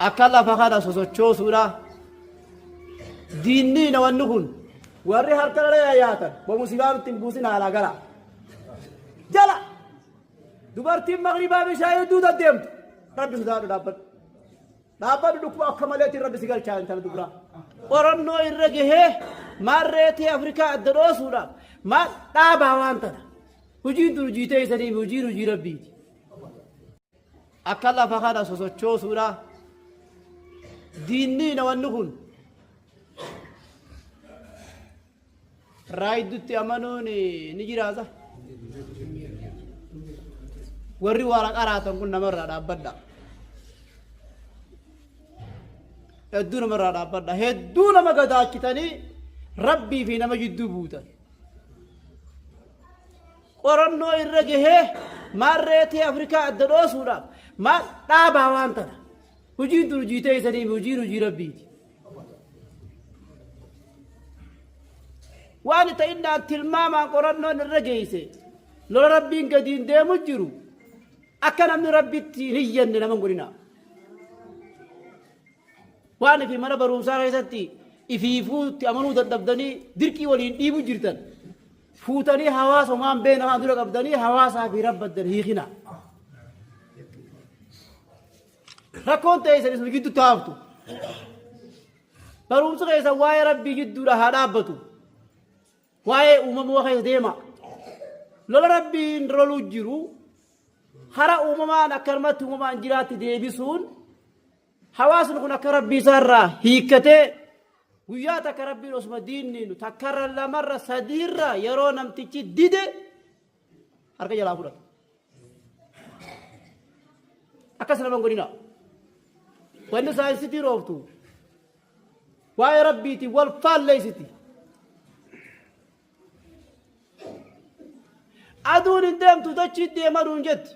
akka lafa kana sosochoosuudha diinniina wanni kun warri harka dhala yaatan bomusibaa nutti hin buusin haalaa gara jala dubartiin maqribaa bishaan hedduu deddeemtu rabbi sodaadhu dhaabbadhu dhaabbadhu dhukkuba akka maleetiin rabbi si galchaa intala dubraa qorannoo irra gahee maarreetii afrikaa adda dhoosuudhaaf maal dhaabaa waan tana hojiin tun hojii teessanii fi hojiin hojii rabbiiti akka lafa kana sosochoosuudha diinnii nawanni kun raayiddutti amanuun ni jiraata warri waara qaraatan kun namarraa dhaabbadha hedduu namarraa dhaabbadha hedduu nama gadaachitanii rabbii fi nama jidduu buutan qorannoo irra gahee maal reetii Afrikaa adda dhoosuudhaaf maal dhaabaa waan tana. Hujiin tun hujii teessanii fi hujiin hujii rabbiiti. Waan ta'innaan tilmaamaan qorannoon irra geesse lola rabbiin gadiin deemu jiru akka namni rabbitti hin hiyyanne nama hin godhina. Waan ifi mana barumsaa keessatti ifiifuutti amanuu dadhabdanii dirqii waliin dhiibu jirtan. Fuutanii hawaasa homaan beena haa dura qabdanii hawaasaa fi rabbaddan hiikina. Rakkoon ta'e isanis nu gidduutti haaftu. Barumsi keessan waa'ee rabbii gidduudha haa dhaabbatu. Waa'ee uumamaa keessa deema. Lola rabbiin loluu jiru hara uumamaan akkanumatti uumamaan jiraatti deebisuun Hawaasni kun akka rabbii isaarraa hiikkatee guyyaa takka rabbiin osuma diinniinu takkarra lamarra sadiirra yeroo namtichi dide harka jalaa fudhata. Akkas nama hin godhina. Wanni saayinsitii roobtu waa'ee rabbiitiin wal faalleessiti. Aduun hin deemtu dachii deemanuun jetti.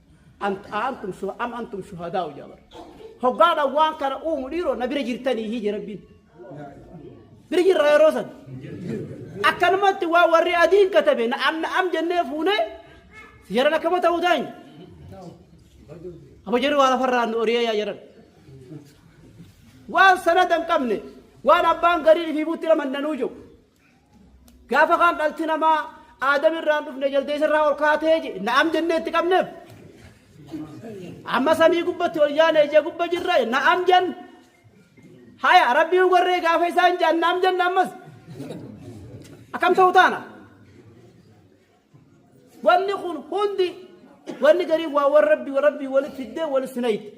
Ant- aantum shu- am antum shuhadaa'u jedha bara. Hoggaadhaan waan kana uumu dhiiroo na bira jirtanii hii jedha rabbiin. Bira jirra yeroo san. Akkanumatti waan warri adiin katabe na am na am jennee fuunee jaran akkama ta'uu daa'in. Amma jarri waa lafarraa nu oriyee yaa jaran. Waan sanada hin qabne waan abbaan gariin fi butti nama hin danuu jiru. Gaafa kaan dhalti namaa aadam irraan dhufne jaldeessa irraa ol kaatee je- na'am jennee itti qabneef. Amma samii gubbatti ol yaane ija gubba jirra na'am jenn. Haya rabbiin warree gaafa isaan jaan na'am jenna ammas. Akkam ta'u taana? Wanni kun hundi wanni garii waa warra rabbi warra rabbi walitti fiddee wal sinayitti.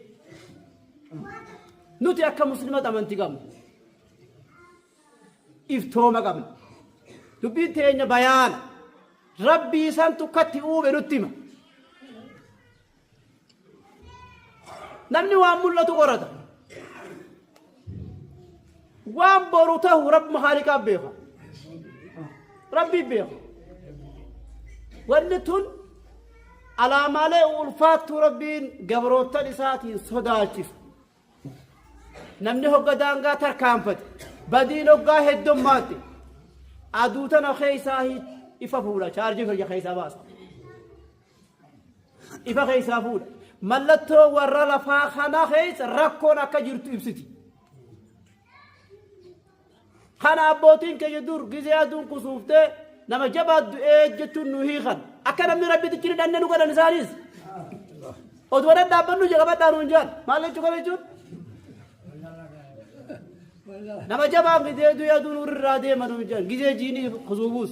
Nuti akka musliimota amantii qabna. iftooma qabna. Dubbiin teenya bayaana. Rabbii isaan tukkatti uume nutti hima. Namni waan mul'atu qorata. Waan boru tahu rabbi haaliqaaf beeka. Rabbii beeka. Wanni tun alaamaalee ulfaattuu rabbiin gabroottan isaatiin sodaachisu. Namni hogga daangaa tarkaanfate badiin hoggaa heddummaatte aduu tana keessaa ifa fuudha chaarjii fayya keessaa baasa. Ifa keessaa fuudha. Mallattoo warra lafaa kana keessa rakkoon akka jirtu ibsiti. Kana abbootiin keenya dur gizee aduun kusuuftee nama jabaat du'ee jechuun nu hiikan. Akka namni Rabbitichi ni dhanne nu godhan isaanis. Oduma dhadhaabbannu jaqabadhaa nuun jaan. Maal jechuu kana jechuun? Nama jabaan gizee du'ee aduun irraa deema nuun jaan. Gizee jiinii kusuufuus.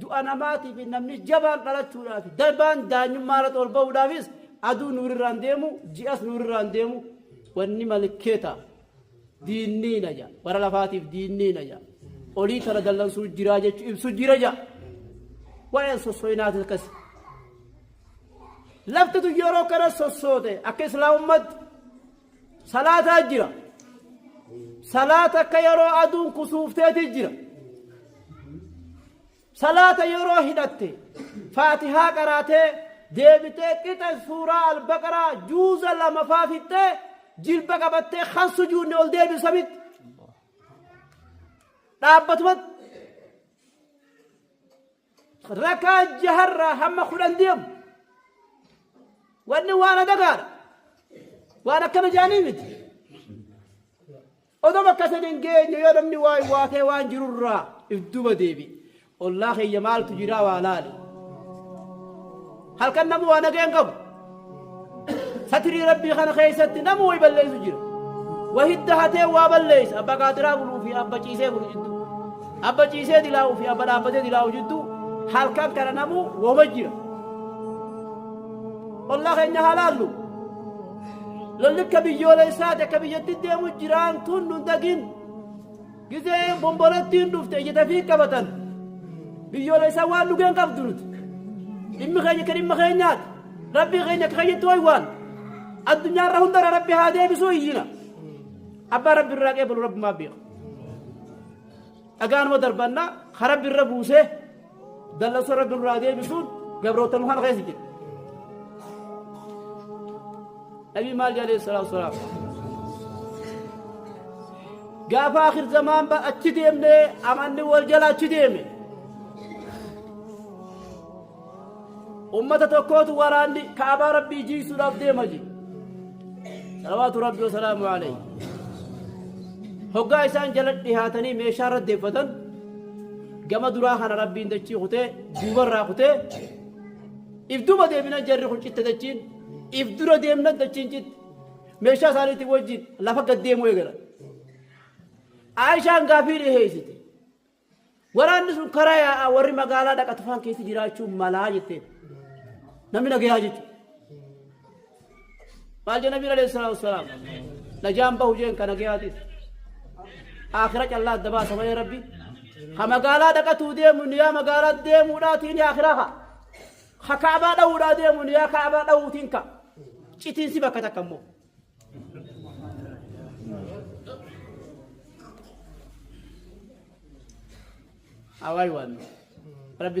Du'a namaatii fi namni jabaan dhalachuudhaa fi darbaan daanyummaa irratti ol ba'uudhaafis aduu nuurirraan deemu ji'as nuurirraan deemu wanni malkee ta'a. Diinniina ja'a. Bara lafaatiif diinniina ja'a. Olii tana dallansuu jiraa jechuu ibsu jira ja'a. Waa'een sosso'inaatis akkasi. Laftitu yeroo kana sossoote akka islaamummaatti salaataa jira salaata akka yeroo aduun kusuufteeti jira salaata yeroo hidhatte faatihaa qaraatee deebitee qixa suuraa albaqaraa juuza lama faa fixxee jilba qabattee kan sujuunne ol deebisu samitti dhaabbatumatti Rakaa jaharraa hamma kudhan deemu. Wanni waan adagaadha. Waan akkana jaanii miti. Odoo bakka san hin geenye yoo namni waa waatee waan jirurraa if duba deebi. Ollaa keeyya maaltu jiraa waa laali. Halkan namuu waa nageen qabu. Satirii Rabbii kana keessatti namuu way balleessu jira. Wa hidda hatee waa balleessa. Abba qaatiraa buluu fi abba ciisee bulu jidduu. Abba ciisee dilaa'uu fi abba dhaabbatee dilaa'uu jidduu halkan kana namuu woma jira. Ollaa keenya haa laallu. Lolli akka biyyoolessaati akka biyyatti deemu jiraan tun nu dagin. Gizee bombolattiin dhufte ija dafii qabatan biyyoolessaa waan dhugeen qabdu nuti. Dhimmi keenya akka dhimma keenyaati. Rabbii keenya akka keenyatti waywaan. Addunyaa irra hundarra rabbi haa deebisuu iyyina. Abbaa rabbi irraa qeebalu rabbi maa beeka. Dhagaanuma darbannaa ka rabbi irra buusee Dallasa Rabbi irraa deebisuun gabroota nu kana keessa jira. Nabi maal jedhe alayhi salaatu wasalaam. Gaafa akhir zamaan ba achi deemne amanni wal jala achi deeme. Ummata tokkootu waraanni kaabaa Rabbii jiisuudhaaf deema jiru. Salawaatu Rabbi wasalaamu alayhi. Hoggaa isaan jala dhihaatanii meeshaa irra deeffatan gama duraa kana rabbiin dachii kutee duuba irraa kutee if duuba deebina jarri kun citte dachiin if dura deemna dachiin citte meeshaa isaaniitiin wajjin lafa gad deemuu eegalan. Aayishaan gaafii dhiheessite. Waraanni sun karaa yaa'aa warri magaalaa dhaqatu faan keessa jiraachuu malaa jetteen. Namni nagayaa jechuudha. maal jee nabiin alayhi salaatu wassalaam najaan bahu jeen kana gayaatis aakhira callaa adda baasa malee rabbi ha magaalaa dhaqatuu deemu niyaa magaalaa deemuudhaatii ni aakhira ha ha kaabaa dha'uudhaa deemu niyaa kaabaa dha'uutiin ka citiinsi bakka takka immoo awaay waan rabbi